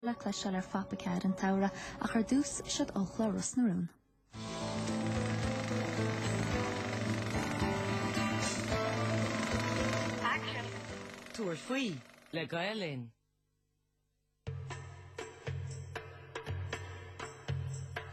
le cloisteáil ar phopchairteacha an tsamhraidh ach ar dtús, seod ó chlár Ros na Rún. Tabhair faoi le Gael Linn.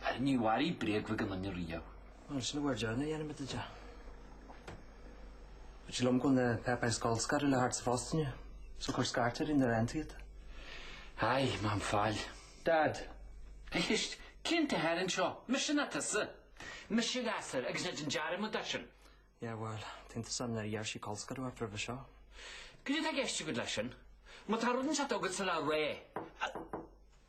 Á níor mharaigh bréag bheag aon duine riamh. Mar sin a bhfuair John a dhéanamh de de. Dúirt sé liom go bhfuil na páipéir colscaradh le theacht sa phosta inniu. So cuir scairt ar Rinne Rand iad. Aye, má bhíonn faill. Dad. Éist, cé an t-athair anseo? Mise nó tusa. Mise an gasúr agus ná déan dearmad air sin. Yeah, bhuel, téann tusa ann nuair a d'iarr sí colscaradh ort roimhe seo. Goidé atá i gceist agat leis sin. Má tá rud inteacht agatsa le rá.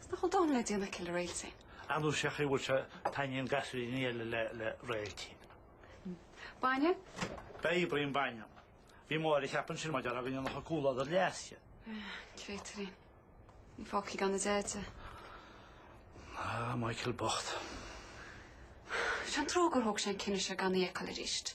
Is nach bhfuil dada le déanamh aici le Réailtín. Ar ndóigh sé an chaoi a bhfuil sé, taitníonn gasúir eile le Réailtín. Bainne? Beidh, braoinín bainne. Bhí Máire ag ceapadh ansin mar a déarfá go ndéanfadh an comhluadar leas di. Créatúirín, fágtha gan a deaide. Ah, Michael bocht. Is é an trua gur thóg sé an cinneadh seo gan í a fheiceáil arís.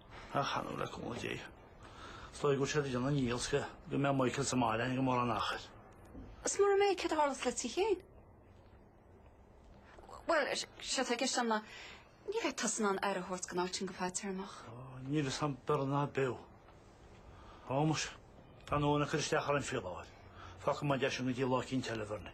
Ach ar ndóigh le cúnamh Dé. Is dóigh go bhfuil siad ag déanamh a ndíchill sa gcaoi go mbeadh Michael sa mbaile gan mórán achair. Is mura mbeadh céard a tharlós sa tigh féin. Bhuel, séard atá i gceist a'm ná ní bheadh tusa in ann aire a thabhairt do Réailtín go fadtéarmach. Níl fhios a'm Berni an mbeadh. Ó, muise, tá an uain ag cur isteach ar an phíoláil. Fágfaidh mé deis agam go dtí Lá Cinn Teilbhearnaí.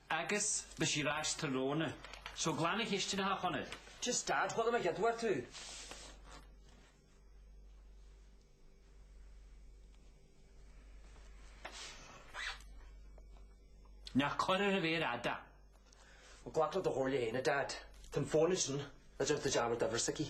Agus beidh sí ar ais tráthnóna. So glan an chistin a Chonaill. Just dad, what am I gidmhair tú? Ná cuir ar an mhéar fhada. Well glac le do chomhairle féin a dad. Tá an fón ansin, an dtearn tú dearmad de uimhir s'aici.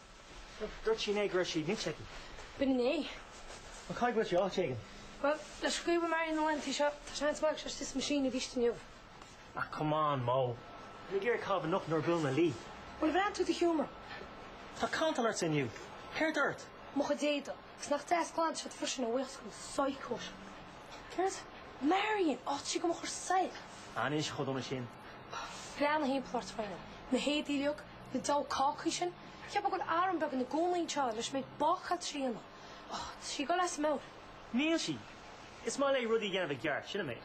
Dúirt sí inné go raibh sí nite aici. B'in inné. Á caithfidh go bhfuil sé áit éigin? Bhuel, leis an gcaoi a bhfuil Marion na laethanta seo, tá seans maith go bhfuil sí sa meaisín aríst inniu. Ach come on, Mo. Mé ag iarraidh í a chaitheamh anocht nuair a bhuaileann mé le Lee. Bhuel, ar bhreathnaigh tú i do sheomra. Tá cantal ortsa inniu. Céard atá ort? Mo chuid éadaí. Is nach deas glan siad freisin a bhuíochas don psycho seo. Céard? Marion? Áit sí go mba chóir saol. Á níl sí chomh dona sin. Breathnaigh thimpeall ort, Mhairéad. Na héadaí uilig? Na diabhal cácaí sin. Cheap mé go raibh arm beag ina gcónaí anseo leis an méid bácála atá déanta. Ach, tá sí ag dul as an mbealach. Níl sí. Is maith léi rudaí a dhéanamh i gceart, sin an méid.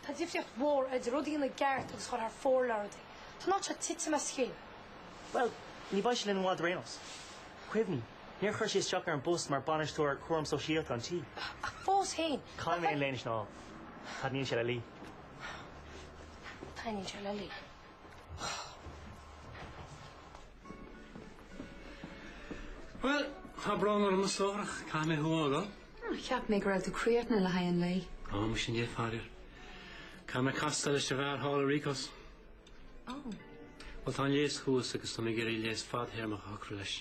Tá difríocht mhór idir rud a dhéanamh i gceart agus a dhul thar fóir le rudaí. Tá an áit seo ag titim as a chéile. Bhuel, ní bheidh sí linn i bhfad ar aon nós. Cuimhnigh, níor chuir sí isteach ar an bpost mar Bhainisteoir Cúram Sóisialta an tí. Ach fós féin. Caithfidh mé an léine sin a fháil. Taitníonn sé le Lee. Taitníonn sé le Lee. Bhuel, tá brón orm a stóirín, caithfidh mé thú a fhágáil. Ó, cheap mé go raibh tú críochnaithe le haghaidh an lae. Ó, muise níl, faraor. Caithfidh mé castáil leis an bhfear thall i Ríocos. Ó. Bhuel, tá an léas thuas agus tá mé ag iarraidh léas fadthéarmach a shocrú leis.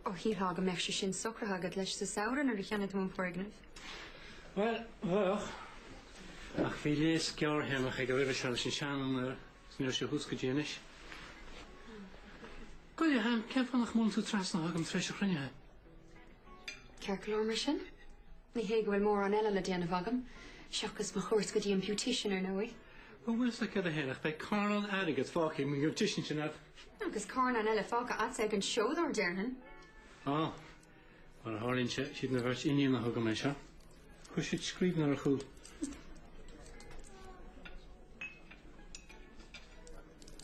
Ó, shílfeá go mbeadh sé sin socraithe agat leis sa samhradh nuair a cheannaigh tú an foirgneamh. Bhuel, bheadh. Ach bhí léas gearrthéarmach aige roimhe seo leis an sean-úinéir is ní raibh sé thuas go dtí anois. Gabh i leith, cén fáth nach mbuaileann tú trasna agam tar éis an chruinnithe? Ceart go leor mar sin? Ní hé go bhfuil mórán eile le déanamh agam, seachas mo chuairt go dtí an beautician, ar ndóigh. Bhuel níl a fhios agam cén t-am é ach beidh carnán airgid fágtha ag an mbeautician sin, abair. Agus carnán eile fágtha agatsa ag an seodóir, déarfainn. Á, Mar a tharlaíonn sé, is iad mo bheirt iníon a thug dom é seo. Chuir siad scríbhinn ar a chúl.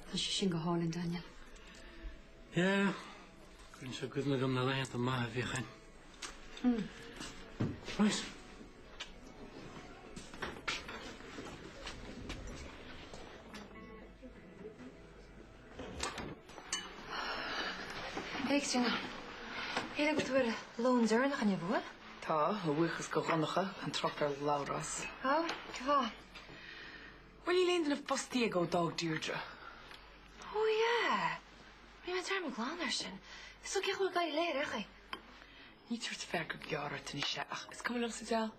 Tá sé sin go hálainn, Daniel. Yeah. Cuireann sé i gcuimhne dhom na laethanta maithe a bhíodh ann. Mm. Right. Buíochas le Dia go bhfuil lón deireanach inniu uainn. Tá, a bhuíochas do Dhonncha, gan trácht ar Labhrás. Ó, cén chaoi. Bhuel, níl aon duine fostaí aige ó d'fhág Deirdre. Ó yeah! Rinne mé dearmad glan air sin. So cén chaoi a bhfuil ag éirí léi ar aon chaoi? Ní tabharfá go Gearóid anois é ach is cuma liom sa deal.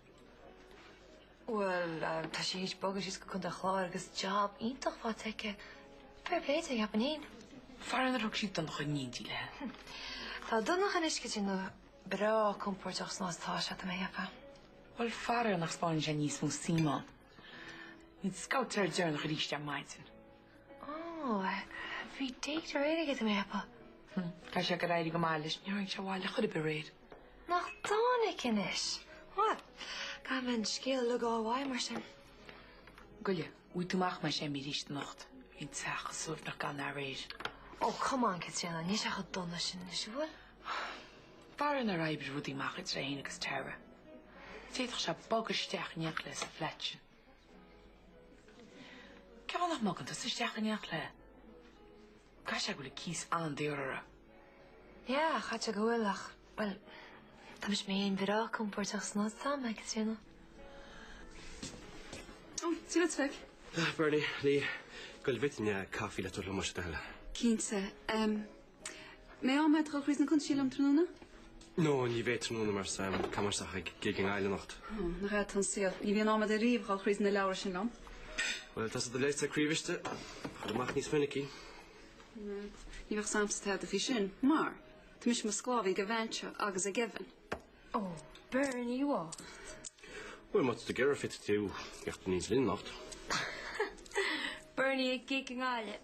Bhuel, tá sí ag bogadh síos go Contae Chláir agus job iontach faighte aici. Fair play di, Japanín. Faraor nár thug sí Donncha in éindí léi. Tá Donnacha anois go díreach breá compordach san áit a bhfuil sé. Bhuel, faraor nach spáineann sé níos mó suim ann. Bhí sé an- deireanach arís ar maidin. Ó, bhí date aréir aige atam a théapadh. Hm, tá sé ag éirí go maith leis, níor tharraing sé abhaile chor ar bith aréir. Nach dtáinic anois? Bhuel, gabh mo leithscéal le d'aghaidh mar sin. Gabh i leith, an ngabhfaidh tú amach, más ea, arís anocht. Bhí an teach an-suaimhneach gan é aréir. Oh, come on, Caitríona, níl sé chomh dona sin anois, an bhfuil? Faraor nár oibrigh rudaí amach idir é féin agus Tara. D'fhéadfadh sé bogadh isteach in éineacht léi sa flat sin. Cén fáth nach mbogann tusa isteach in éineacht léi? Caithfidh sé go bhfuil an cíos an-daor uirthi. Yeah, caithfidh sé go bhfuil ach, bhuel, tá mise mé fhéin breá compóirteach san áit a bhfuil mé, tá a fhios agat. Ó, sí le troid. Ah, Bernie, níl a fhios agam an bhfuil an caife le tabhairt liom mar sin a thuilleadh. Cinnte. Em, an maith leat a dhul tríd na cuntais liom tráthnóna? No, ní bheidh tráthnóna mar is eadh Cammarasach ag gig i nGaillimh anocht. Ó, nach agat atá an saol. Ní bhíonn am agat ariamh a ghoil tríd na leabhra sin liom. Bhuel, tá sé de léite sa craobhiste. A ghoil amach níos minicí. Ná, ní bheadh am agamsa tada do bhí sin, mar tá mise i mo sclábhaí ag an mbean seo agus ag Evan. Ó, Berni bhocht. Bhuel, má tá tú ag iarraidh féadfaidh tú a theacht aníos linn anocht. Berni ag gig i nGaillimh.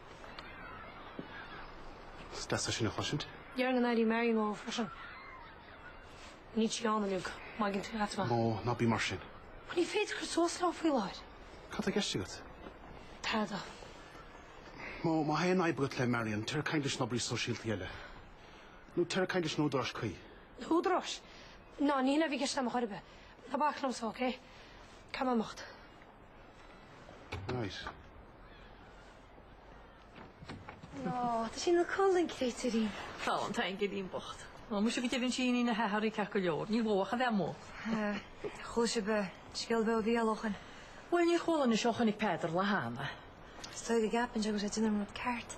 Is deas é sin a chloisint. Dhear na n-airí Mary Mo freisin. Níl sí ann inniu, maidin trí leatsa. Mo, ná bí mar sin. Mo, ní féidir cur suas leo faoi láthair. Cad tá i gceist agat? Tada. Mo, má tá aon fhadhb agat le Marion, téigh ag caint leis an oibrí sóisialta eile. Nó téigh ag caint leis na húdaráis chuí. Na húdaráis? Ná, ní hé sin a bhí i gceist agam ar chor ar bith. Ná bac liomsa, ócé? Cam anocht. Nice. Nó, tá sí ina codladh, créatúirín. Tá, tá an geirín bocht. Ó muise go deimhin sí iníon a hathar í ceart go leor. Níl mhódh a bheith amuigh. Sea, chuala sibh scéal beo a bhí á lochan. Bhuel, níor chuala anois ó chonaic Peadar lá cheana. Is dóigh gur cheap seisean go raibh sé ag déanamh an rud ceart.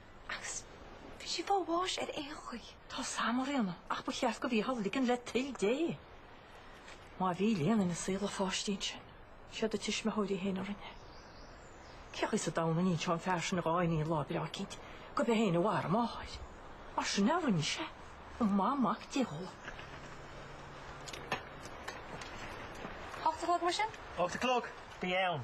Agus bhí sí ag fáil bháis ar aon chaoi. Tá a fhios agam a Ríona ach ba cheart dóibh í a ligean le toil Dé. Má bhí léan ina saol an pháistín sin, siad a tuismitheoirí féin a rinne. Cén chaoi sa domhan a n-inseoidh an fear sin dhá iníon lá breá eicínt gurb é féin a mharaigh a máthair? Mar sin a rinne sé, go maithe Mac Dé dhó. Ocht a chlog mar sin? Ocht a chlog? Bí ann.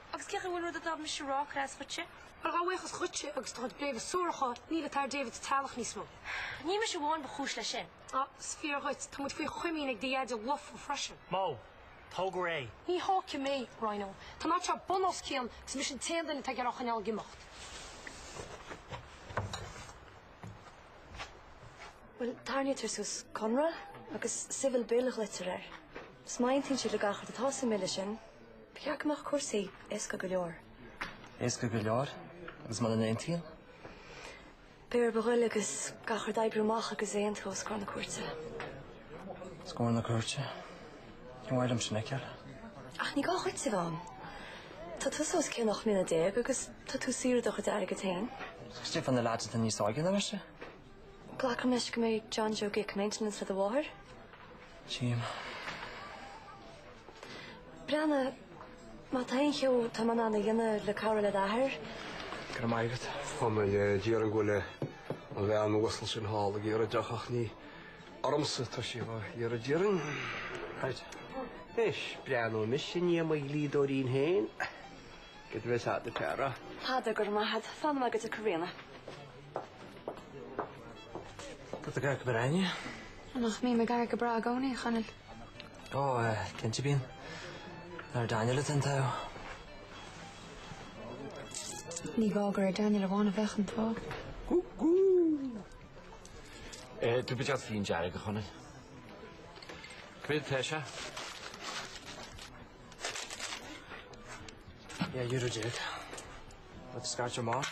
Agus céard faoin rud a d'fhág mise a rá, craos dhuitse? Mar a bhuíochas dhuitse agus do chuid bréaga suaracha, níl áit ag David sa teaghlach níos mó. Ní mise amháin ba chúis leis sin. Á, is fíor dhuit, tá muid faoi chomaoin ag do Dhaide lofa freisin. Mo, tóg réidh. Ní thógfaidh mé, Rhona. Tá an áit seo bun os cionn agus mise an t-aon duine atá ag iarraidh a choinneáil ag imeacht. Bhuel, tarraingítear suas conradh agus civil bill a ghlaoitear air. Má aontaíonn siad le gach rud atá sa mBille sin, Ba cheart go mbeadh cúrsaí éasca go leor. Éasca go leor? Agus muna n-aontaíonn? Beidh orthu a ghoil agus gach rud a oibriú amach agus aontú os comhair na cúirte. Os comhair na cúirte? Ní maith liom sin ag ceal. Ach ní gá dhuit a bheith ann. Tá tú os cionn ocht mbliana déag agus tá tú ag saothrú do chuid airgid féin. Caidé fá na leaids atá níos óige ná mise? Glacaimis go mbeidh John Joe ag íoc maintenance le do mháthair. Jim. Breanna, má tá aon cheo atá mé in ann a dhéanamh le cabhrú le d'athair. Go raibh maith agat. Tá mé le díriú go bhfuil an bhean uasal sin thall ag iarraidh deoch ach ní ormsa tá sí á iarraidh dáiríre. Right. Anois, breathnóidh mise i ndiaidh mo dhlíodóirín féin. Go raibh maith agat a Peadar. Peadar, go raibh maith agat. Slán agat a Karina. Tá do ghruaig go breá inniu. Á nach mbíonn mo ghruaig go breá i gcónaí, a Chonaill? Ó, cinnte bíonn. Is ar Daniel atá an t-ádh. Ní gá gur ar Daniel amháin a bheadh an t-ádh. Gú gú! Eh, cad déarfá le fíon dearg, a Chonaill. Cad é seo? Yeah, euro déag. Tá tú scairtear maith.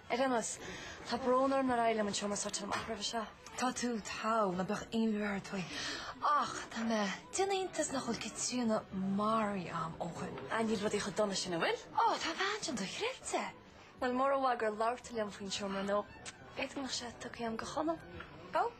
Ar dheannas, tá brón orm nár éirigh liom an seomra a shórtáil amach roimhe seo. Tá tú togha, ná bíodh aon bhuairt ort faoi. Ach tá mé ag déanamh iontais nach bhfuil Caitríona maraithe a'm ó shoin. Ah, níl rudaí chomh dona sin, an bhfuil? Oh, tá an bhean sin dochreidte. Bhuel, mura mbeadh gur labhair tú liom faoin seomra nó b'fhéidir go mbeadh sé tugtha a'm do Chonall. Go.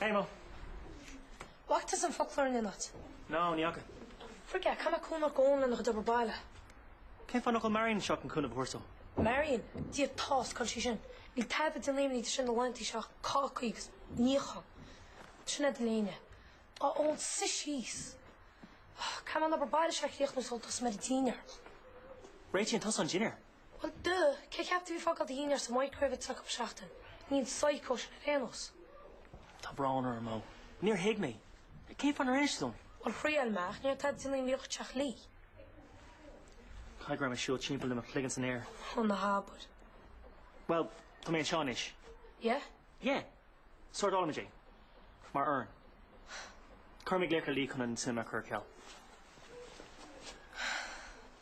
Hey Mo. An bhfacaís an foclóir in aon áit? No, ní fhaca. Frig it, caithfidh mé cúnamh a thabhairt do Eoin lena chuid obair baile? Cén fáth nach bhfuil Marion anseo chun cúnamh a thabhairt dó? Marion? Diabhal a fhios cá bhfuil sí sin? Níl tada ag déanamh imní di sin na laethanta seo ach cácaí agus níochán. Sin é do léine. A Eoin, suigh síos! Caithfidh mé an obair baile seo a chríochnú sula dtosóidh mé ar an dinnéar. Réitíonn tusa an dinnéar. Well duh, cé cheap tú a bhí ag fágáil do dhinnéar sa microwave acu seachtain. Ní hí an psycho sin ar aon nós. Tá brón orm, Mo. Níor thuig mé. Cén fáth nár inis tú dom? Well thriail mé ach ní raibh tada ag déanamh imní dhuit ach Lee. Caithfidh go raibh mé ag siúl timpeall le mo chloigeann san aer. Ó ná habair. Well, tá mé anseo anois. Yeah? Yeah. Sórtálfaimid é. Mar fhoireann. Cuirfidh mé glaoch ar Lee chun an cinema a chur ar ceal.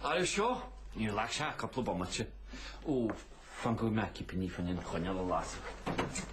Air seo? Ní ghlacfaidh sé ach cúpla bomaite. Ó, fan go bhfaighidh mé cipíní fán choinneal a lasadh.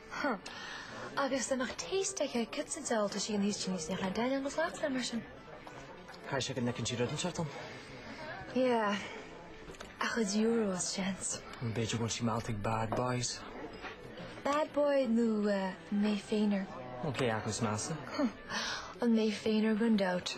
Huh. Agus dá mbeadh taste aige ag pizza de óltais í an fhaoistin níos déanaí d'fheil an glas le mar sin. Caithfidh sé go bhfeiceann sí rud anseo dom. Yeah. A chuid euros, seans. B'fhéidir go bhfuil sí meallta ag bad boys. Bad boy nó mé féin, a Athair. Cé acu is measa. Huh. An mé féin a Athair, gan dabht.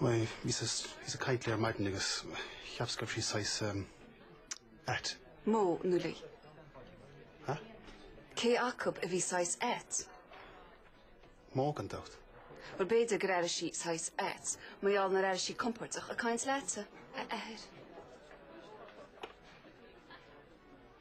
Bhíos ag caint léi ar maidin agus cheapas go raibh sí saghas ait. Mo nó Lee? Hah? Cé acu a bhí saghas ait? Mo gan dabht. Bhuel, b'fhéidir gur airigh sí saghas ait, mar gheall nár airigh sí compordach ag caint leatsa, a Athair.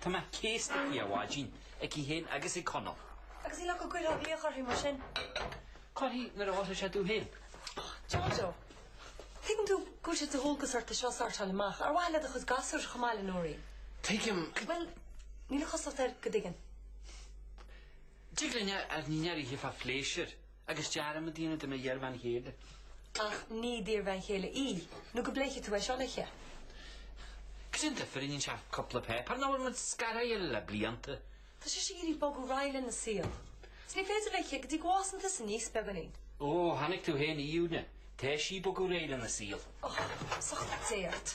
Tá mé céasta aici ó mhaidin, aici féin agus ag Conall. Agus níl a fhios agam goidé a thig uirthi mar sin. Corruair mar atá tú féin. Jojo, tuigeann tú go bhfuil sé de dhualgas ort é seo a shórtáil amach. Ar mhaith le do chuid gasúir chomh maith le Nóirín? Tuigim. Bhuel, níl a chosúlacht air go dtuigeann. Tig linn ár ndinnéar a ithe fá phléisiúr. Agus dearmad a dhéanamh de m'iarbhean chéile. Ach ní d'iarbhean chéile í, nó go bpléifidh tú é seo leithe. Cad é an difir a níonn sé cúpla páipéar nuair atá muid scartha óna chéile le blianta. Tá sí ag iarraidh bogadh ar aghaidh lena saol. Is ní féidir leithe go dtí go bhfásann tusa aníos beagáinín. Ó, tháinig tú féin, Aoibhne. Tá sí ag bogadh ar aghaidh lena saol. Ó, seacht ndóthain.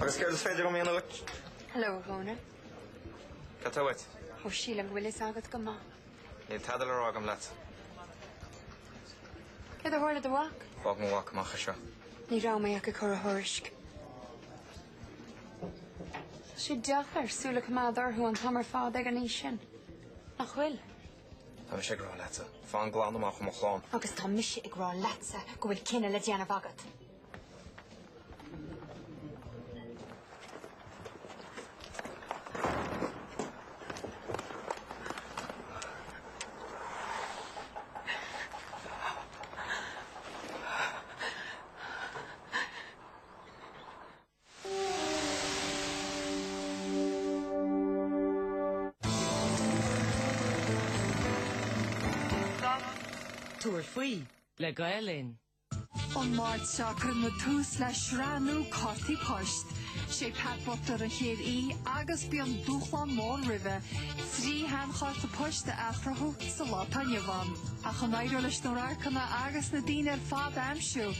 Agus céard is féidir liom a dhéanamh dhuit? Hello, a Dhónaill. Cad tá uait? Ó, sílim go bhfuil fhios agat go maith. Níl tada le rá agam leat. Céard a tharla do do mhac? Fág mo mhac amach as seo. Ní raibh mé ach ag cur a thuairisc. Tá sé deacair súil a choimeád orthu an t-am ar fad ag an aois sin, nach bhfuil? Tá mise ag rá leatsa, fan glan amach ó mo chlann. Agus tá mise ag rá leatsa go bhfuil cinneadh le déanamh agat. Tabhair faoi le Gael Linn. An Máirt seo cuirfear tús le sraith nua Cártaí Poist. Sé Pat Butler an chéad aoi agus beidh dúshlán mór roimhe, trí sheanchárta poist a athchruthú sa lá atá inniu ann. Ach an éireoidh leis na radharcanna agus na daoine ar fad a aimsiú.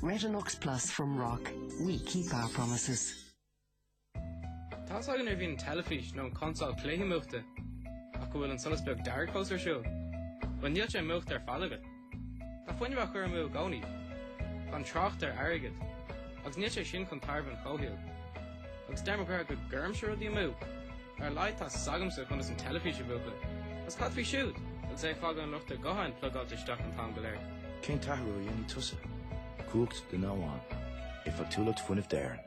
Retin-Ox Plus from RoC, we keep our promises. Tá a fhios agat nuair a bhíonn an teilifís nó an consól cluichí múchta ach go bhfuil an solas beag dearg fós ar siúl? Bhuel níl sé múchta ar fad agat. Tá fuinneamh á chur amú i gcónaí, gan trácht ar airgead agus níl sé sin chun tairbhe an chomhshaoil. Agus deir mo chara go gcuirimse rudaí amú. Ar a laghad tá 's agamsa conas an teilifís a mhúchadh. Agus cad faoi siúd? Agus é ag fágáil an luchtaire gutháin plugáilte isteach an t-am go léir. Cén t-athrú a dhéanfaidh tusa? Cumhacht duine amháin. Éifeachtúlacht fuinnimh d'Éirinn.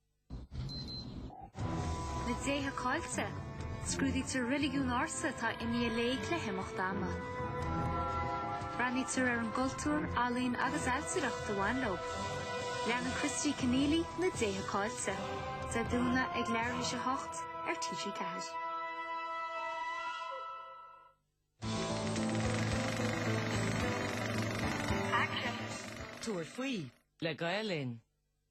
Na Déithe Caillte. Scrúdaítear reiligiún ársa atá imithe i léig le himeacht ama. Breathnaítear ar an gcultúr, ealaín agus ailtireacht a bhain leo. Leanann Christy Kenneally Na Déithe Caillte. Dé Domhnaigh ag leath tar éis a 8 ar TG4. Tabhair faoi, le Gael Linn.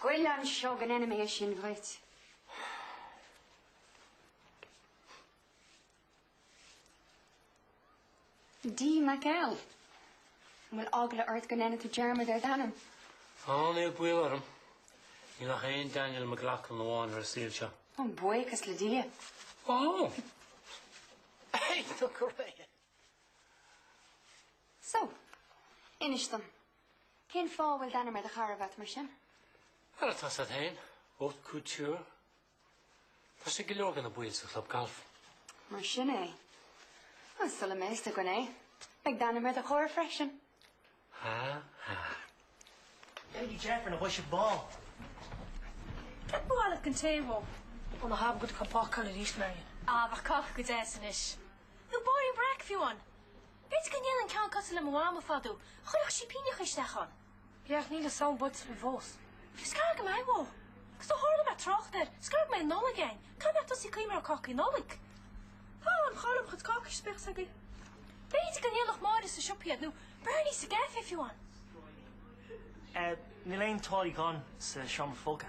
Gabh i leith anseo go ndéanfaidh mé é sin dhuit. D. Mac L. An bhfuil eagla ort go ndéanfaidh tú dearmad ar d'ainm? Níl baol orm. Níl ach aon Daniel McLaughlin amháin ar an saol seo. Ó, buíochas le Dia. Ó! Aithne, go raibh mé! So, inis dom, Cén fáth a bhfuil d'ainm ar do charbhat mar sin? Mar atá a fhios agat féin, haute couture. Tá sé ag go leor de na baill sa chlub galf. Mar sin é. Bhuel, sula mbeidh fhios againn é, beidh d'ainm ar do charr freisin. Ha, ha. Baby Jeff ar na boisigh bán. Cad ba mhaith leat don tae, Mo? Ó, ná habair go dtí cupán coill arís, Marian. Abair cáca deas anois. Nó bairín breac fiú amháin. B'fhéidir go ndéanfainn ceann cosúil le mo mhama fadó. Chuirfeadh sí pingineacha isteach ann. Féach, níl an tSamhain buailte linn fós. Is gearr go mbeidh, Mo. Agus ó tharla mé ag trácht air, is gearr go mbeidh an Nollaig ann. Caithfidh mé tosaí ag cuimhneamh ar chácaí Nollag. Tá an chara mo chuid cácaí sa spéir s'againn. B'fhéidir go ndéanfadh Máire sa siopa iad, nó Bernie sa gcaifé fiú amháin. Níl aon tuáillí glana sa seomra folctha.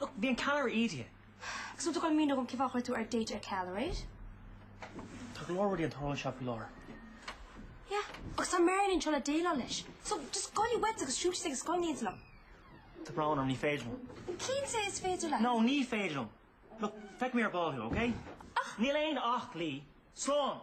Look, bhí an ceallra ídithe. Is ionta go raibh míniú agam cén fáth ar chuir tú ár date ar ceal aréir. Tá go leor rudaí ag tarlú anseo faoi láthair. Yeah, agus tá Marian anseo le déileáil leis. So, just gabh i leith uait agus siúil síos ag an scoil in éindí liom. Tá brón orm, ní féidir liom. Cinnte is féidir leat? No, ní féidir liom. Look, feicfidh mé ar ball thú, okay? Ach! Níl aon ach, Lee. Slán!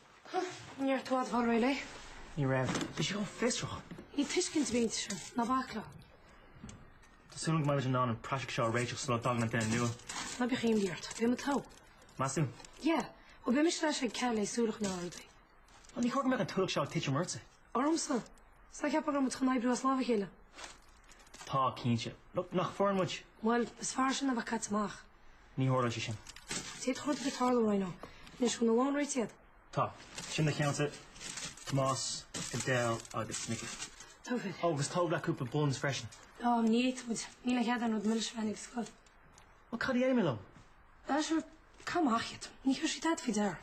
Huh, ní raibh tú i bhfad ag fáil réidh léi. Ní raibh. Bhí sí chomh fiosrach. Níl tuiscint ag an mbean sin, ná bac léi. Tá súil agam go mbeimid in ann an praiseach seo a réiteach sula dtagann an duine nua. Ná bíodh aon imní ort. Beidh muid togha. Meas tú? Yeah. Ó, beidh mise leis ag coinneáil súil chun a fháil rudaí. Bhuel, níor chóir go mbeadh an t-ualach seo ag titim ortsa. Ormsa. Sure cheap mé go raibh muid chun oibriú as lámh a chéile. Tá, cinnte. Nó nach foireann muid? Bhuel, is fearr sin ná a bheith caite amach. Ní tharlóidh sé sin. Téad chugat go dtí tarlú, Rhino. Anois bhfuil na lónta réidh agat. Tá. Sin na ceannta, Tomás, Adele agus Mickey. Togha. Ó, agus tóg leat cúpla buns freisin. Á, ní fhéadfaidh muid. Níl aon chead aon rud milis a bheith in éag sa scoil. Bhuel, cad a dhéanfaidh mé leo? Bhuel, sure, cad maith iad. Ní thabharfaidh siad tada faoi deara.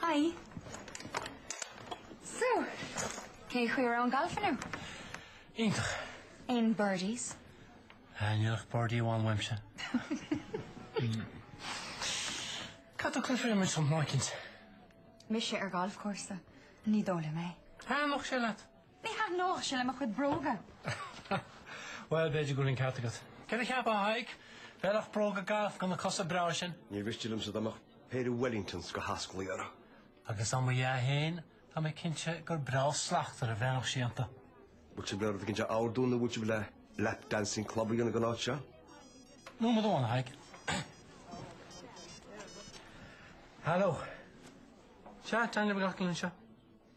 Hi. So, cén chaoi a raibh an galf inniu? Iontach. Aon birdies? Ah, níl ach birdie amháin uaimse. Cad a cuirfear imid St Martins? Mise ar ghalfchúrsa, ní dóigh liom é. An bhfuil sé leat? Ní thaitneodh sé le mo chuid bróga. Bhuel, b'fhéidir go bhfuil an ceart agat. Cad a cheapfá a Thaidhg? Bheadh bróga gailf agat na cosa breá sin. Níor mhiste liomsa dá mbeadh péire Wellingtons go hasclaí uirthi. Agus dá mba ea féin, tá mé cinnte gur breá slachtmhar a bheadh sí iontu. Bhfuil sibh le rud éigin a ordú nó bhfuil sibh le lap dancing club a dhéanamh den áit seo? Nó mo dhomhan, a Thaidhg. Haló. Sea, teangaidh na gcapall anseo.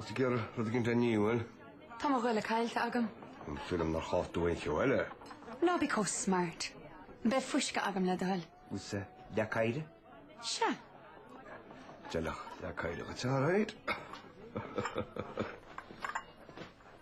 Tusa ag iarraidh rud éigint? Níl. Tá mo ghoile caillte agam. Tá súil agam nár chaill tú aon cheo eile. Ná bí chomh smart. Beidh fuisce agam le do thoil. Agus leac oighre. Sea. D'fheilfeadh leac oighre dhuit a Mhairéad.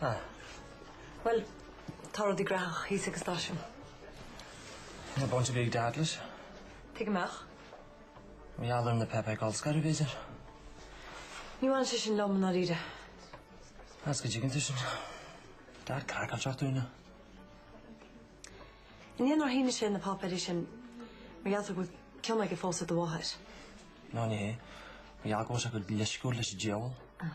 Ah. Bhuel, tá rudaí graitheach thíos ag an stáisiún. An bhfuil baint ar bith ag Dad leis? Thit muid amach mar gheall ar na páipéir colscartha aréir. Ní bhaineann sé sin liom, i ndáiríre. As go dtuigeann tú sin. Dad craiceáilte seacht uaine. An é nár shínigh sé na páipéirí sin mar gheall air go bhfuil cion aige fós ar do mháthair? Nó, ní hé. Mar gheall go bhfuil sé chomh leisciúil leis an diabhal. Ah.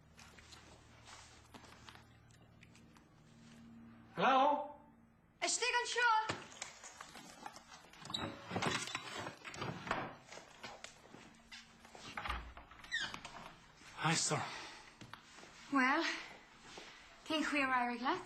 Hello? Istigh anseo! Hi, sir. Well, cén chaoi ar éirigh leat?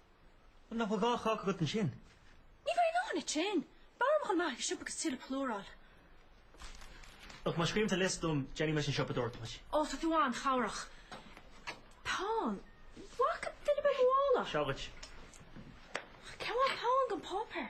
Nach bhfuil dhá cháca agat ansin? Ní bheidh dóthain ansin. B'fhearr liom dhul amach ag an siopa agus tuilleadh plúir a fháil. Ach má scríobhann tú liosta dom, déanfaidh mise an tsiopadóireacht duit. Ó, tá tú an-chabhrach. Peann? Tá ceann beag i mo mhála. Seo dhuit. Ach cén mhaith peann gan páipéar?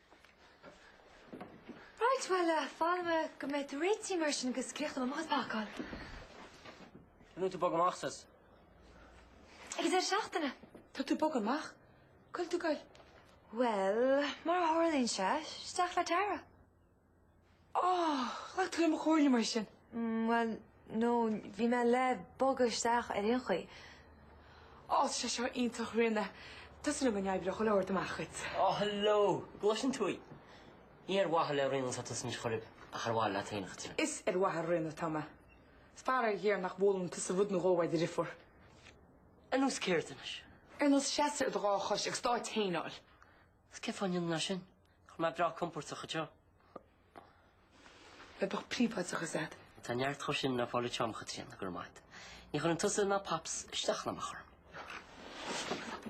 Right, well, fanfaidh mé go mbeidh tú réitithe mar sin agus críochnóidh mé mo chuid pacáil. An bhfuil tú ag bogadh amach as? Ag an deireadh seachtaine. Tá tú ag bogadh amach? Cá bhfuil tú ag goil? Well, mar a tharlaíonn sé, isteach le Tara. Oh! Ghlac tú le mo chomhairle mar sin? Mm, bhuel, no, bhí mé le bogadh isteach ar aon chaoi. Oh, tá sé seo iontach, Ríona. Tá súil a'm go n-oibreoidh chuile shórt amach dhuit. Oh, hello! An gcloiseann tú í? Ní ar mhaithe le Ríona atá tusa anois ar chor ar bith, ach ar mhaithe leat féin, a Chaitríona. Is ar mhaithe le Ríona atá mé. Is faraor géar nach bhfoghlaimíonn tusa rud nó dhó ó do dheirfiúr. Ar nós céard anois? Ar nós seasamh ar do dhá chois agus d'áit fhéin a fháil. Is cén fáth a ndéanfainn é sin? Nach bhfuil mé breá compordach anseo? Bheadh beagán príobháideachais a'd. Tá neart dhó sin le fáil a'm, a Chaitríona, go raibh maith agat. Ní chuireann tusa ná Pops isteach ná amach orm.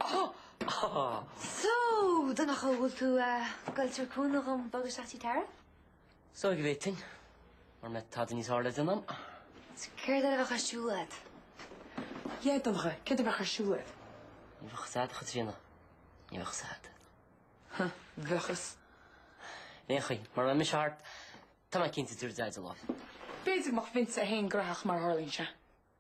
Ohh! So, Donncha, bhfuil tú a' goil a' tabhairt cúnamh dhom bogadh isteach tigh Tara? Is dóigh go bhféadfainn, mara mbeidh tada níos fearr le déanamh a'm. So céard a bheadh ar siúl a'd? Yeah, Donncha, céard a bheadh ar siúl a'd? Ní bheadh fhios a'd, Chaitríona. Ní bheadh fhios a'd. Huh, bheadh fhios. Aon chaoi, mara mbeidh mise thart, tá mé cinnte go dtabharfaidh Daideo lámh. B'fhéidir go mbeinnse fhéin gnóthach mar a tharlaíonn sé.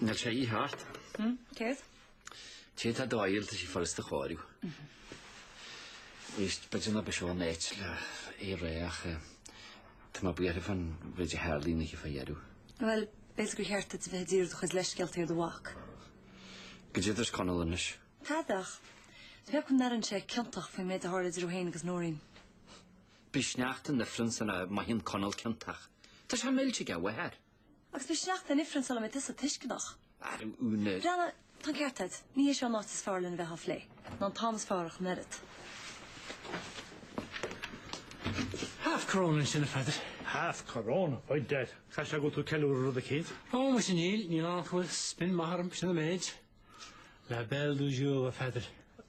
Níl sé ag tíocht. Hm, céard? Cé tá do fhaill tá sí furasta a chóiriú. Éist, b'fhéidir nach é seo an áit le é a rá ach eh, tá mé buartha faoin méid a tharla an oíche faoi dheireadh. Bhuel, b'fhéidir gur cheart duit a bheith ag díriú do chuid leithscéalta ar do mhac. Go dtí duit Conall anois. Tá, bheadh. Tá beag go n-airíonn sé ciontach faoin méid a tharla idir é féin agus Nóirín. Beidh sneachta in ifreann sula mothaíonn Conall ciontach. Tá sé millte ag a mháthair. Agus beidh sneachta in ifreann sula mbeidh tusa tuisceanach. Ar uain na. Breathnaigh, tá an ceart a'd. Ní hé seo an áit is fearr lena bheith á phlé. Ná an t-am is fearr ach an oiread. Half corona ansin, a Pheadair. Half corona? Baint air. Caithfidh sé go bhfuil tú ag ceiliúradh rud eicínt. Ó, muise níl. Níl ann ach go bhfuil spin maith orm, sin an méid. La belle du jour, a Pheadair.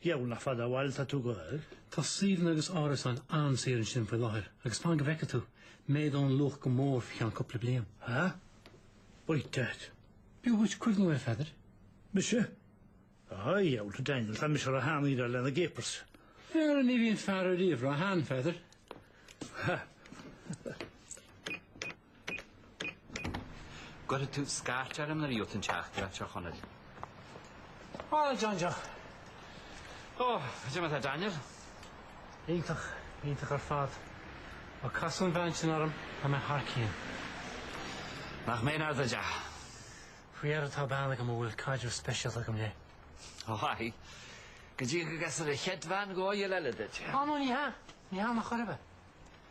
A dhiabhail, nach fada ó bhaile atá tú ag goil. Tá suíomhanna agus árasáin an-saor ansin faoi láthair agus fan go bhfeice tú, méadóidh an luach go mór faoi cheann cúpla bliain. Há? B'ait duit. B'fhiú dhuit cuimhniú air, a Pheadair. Mise? Á, a dhiabhail, Daniel, tá mise róshean le haghaidh na gcapers. Fíor, ní bhíonn fear ariamh róshean, a Pheadair. Há. Cuirfidh tú scairt orm nuair a labhrós tú le dochtúir Uí Chonghaile. Á, a John Joe. Ó, go deimhin atá Daniel. Iontach, iontach ar fad. Má casann an bhean sin orm a mba, tá mé thar cionn. Nach mbeinn ard ar deich. Faoi dheireadh tá bean agam a bhfuil caidreamh speisialta agam léi. Ó aye. Go dtí go gcasfaidh a chead bhean dhóigheall eile duit. Á, nó ní hea, ní hea, an uair seo.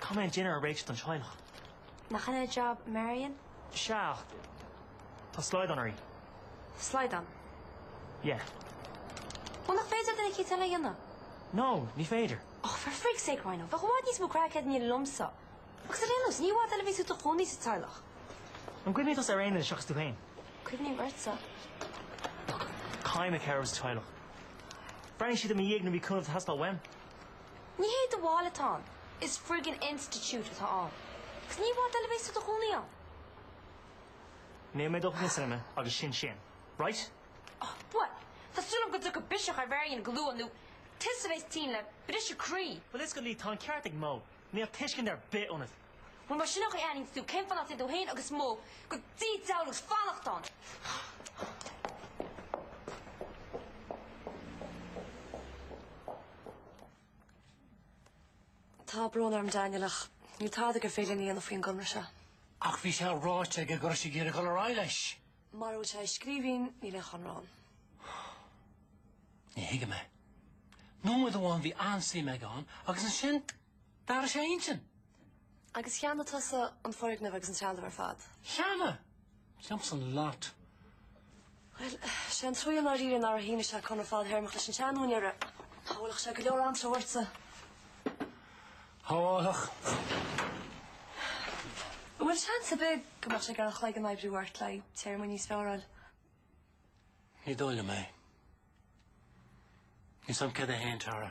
Cá mbeidh an dinnéar réidh don teaghlach? Nach in é jab, Marian? Sea, ach tá slaghdán uirthi. Slaghdán? Yeah. Ó, nach féidir duine eicínt eile é a dhéanamh? No, ní féidir. Och, for frig's sake, Rhona, bheadh i bhfad níos mó craic agat inniu liomsa. Agus ar aon nós, ní i bhfad eile a bheas tú i do chónaí sa teaghlach. An gcuimhníonn tusa ar aon duine seachas tú féin? Cuimhním ortsa. Look, caithfidh mé cabhrú sa teaghlach. Bhreathnaigh siad i mo dhiaidh nuair a bhí cúnamh ag teastáil uaim. Ní hé do bhaile atá ann, is friggin institiúid atá ann. Agus ní i bhfad eile a bheas tú i do chónaí ann. Níl mé ag dul in éineacht leat agus sin sin. Right? Oh, bhuel, tá súil agam go dtiocfaidh biseach ar Mharian go luath nó tusa bhéas tinn le briseadh croí. Well excuse me, tá an ceart ag Mo. Níl tuiscint ar bith ionat. Bhuel más in é an chaoi a n-airíonn tú, cén fáth nach dtéann tú fhéin agus Mo go dtí an teaghlach is fanacht ann? Tá brón orm Daniel ach níl tada gur féidir linn a dhéanamh faoin gconradh seo. Ach bhí sé ráite aige go raibh sé ag iarraidh dul ar aghaidh leis. Mara bhfuil sé i scríbhinn níl aon chonradh ann. Ní thuigim é. Nóiméad amháin bhí an-suim aige ann agus ansin? D'athraigh sé a intinn. Agus cheannaigh tusa an foirgneamh agus an trealamh ar fad? Cheannaigh, damn sure, an lot. Bhuel, 'sé an trua é i ndáiríre nár shínigh sé conradh fadtéarmach leis an seanúinéara. Shábhálfadh sé go leor anró ortsa. Shábhálfadh. An bhfuil seans ar bith go mbeadh sé ag iarraidh an cloigeann a oibriú ort le haghaidh téarmaí níos fearáil? Ní dóigh liom é. Níl a fhios agam céard é féin, Tara.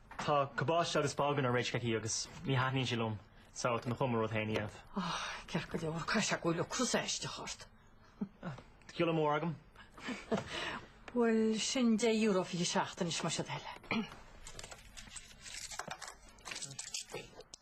Tá cabáiste agus bágún réidh aici agus ní thaitníonn sé liom so tá mé chun mo rud féin a dhéanamh. Ah, ceart go leor, caithfidh sé go bhfuil ocras aisteach ort. Tá goile mór agam. Bhuel, sin deich euro fichead sa tseachtain as mo shaol eile.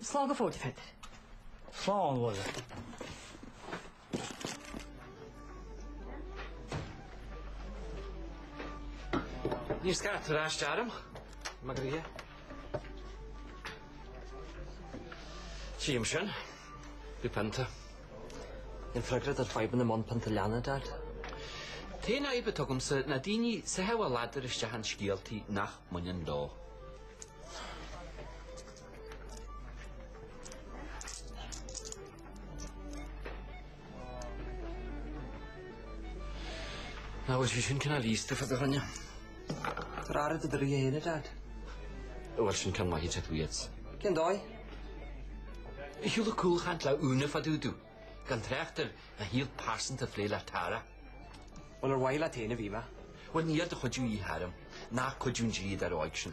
Slán go fóill, a Pheadair. Slán, a Mháire. Ní raibh cabaiste orm, mar go raibh. Tchím sin. Bhí pionta. Níl freagra ar fhadhbanna i mbun pionta leanna, Dad. An t-aon fhadhb atá agamsa ná daoine ag sá a ladar isteach i scéaltaí nach mbaineann leo. Ná bhfuil sé sin cineál íosta fada dhuine. Tabhair aire do do ghnoithe féin a, Daid. Ó bhuel sin cén mhaith iad tú iad? Cén dóigh? Ní shiúladh cúlchaint le Úna fá dtaobh dó gan trácht ar a shaol pearsanta a phlé le Tara. Bhuel ar mhaithe leat féin a bhí mé? Bhuel níl do chuidiú a dhíth orm, ná cuidiú an dlíodóra óig sin.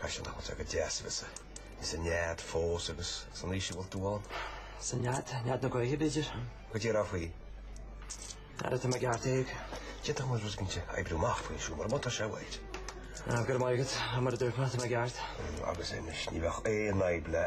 Caith sin thall, tá go deas a bheith sa nead fós agus san aois a bhfuil tú ann. Sa nead, nead na gaoithe b'fhéidir. Go dtí a raibh faoi. Ara tá mé i gceart Aodh. D'fhéadfadh muid rud éigint a oibriú amach faoin siúl má tá sé uait. Go raibh maith agat, mar a duirt mé, tá mé i gceart. Agus anois ní bheadh aon fhadhb le.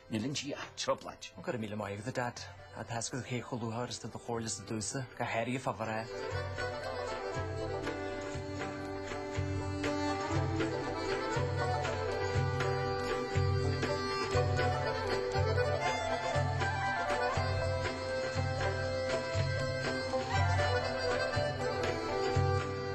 Níl an G at treo bláit. Go raibh míle maith agat a Dad. Tá a fhios agat cé chomh luachmhar is atá do chomhairlese domhsa. Go háirithe a Fabhar a.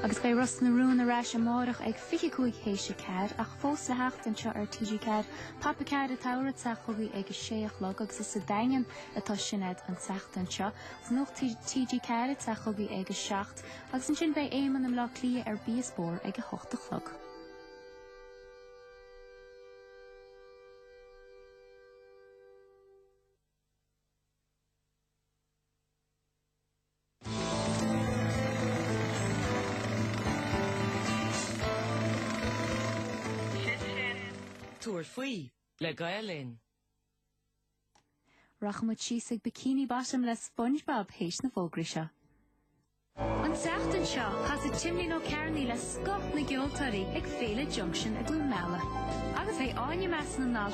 Agus beidh Ros na Rún ar ais amárach ag 25 théis a ceathair ach fós le theacht anseo ar TG4. Pop a Ceathair atá ag teacht chugaibh ag a sé a chlog agus is sa Daingean atá Sinéad an tseachtain seo. Nuacht TG4 ag teacht chugaibh ag a seacht agus ansin beidh Éamonn i mBleá Cliath ar Bia 's Bóthar ag a hocht a chlog. Sin sin. Tabhair faoi, le Gael Linn. Rachaidh muid síos ag Bikini Bottom le Spongebob théis na fógraí seo. An tseachtain seo, casfaidh Timlín Ó Cearnaigh le scoth na gceoltóirí ag Féile Junction i gCluain Meala. Agus é Áine Measa na nAltaí,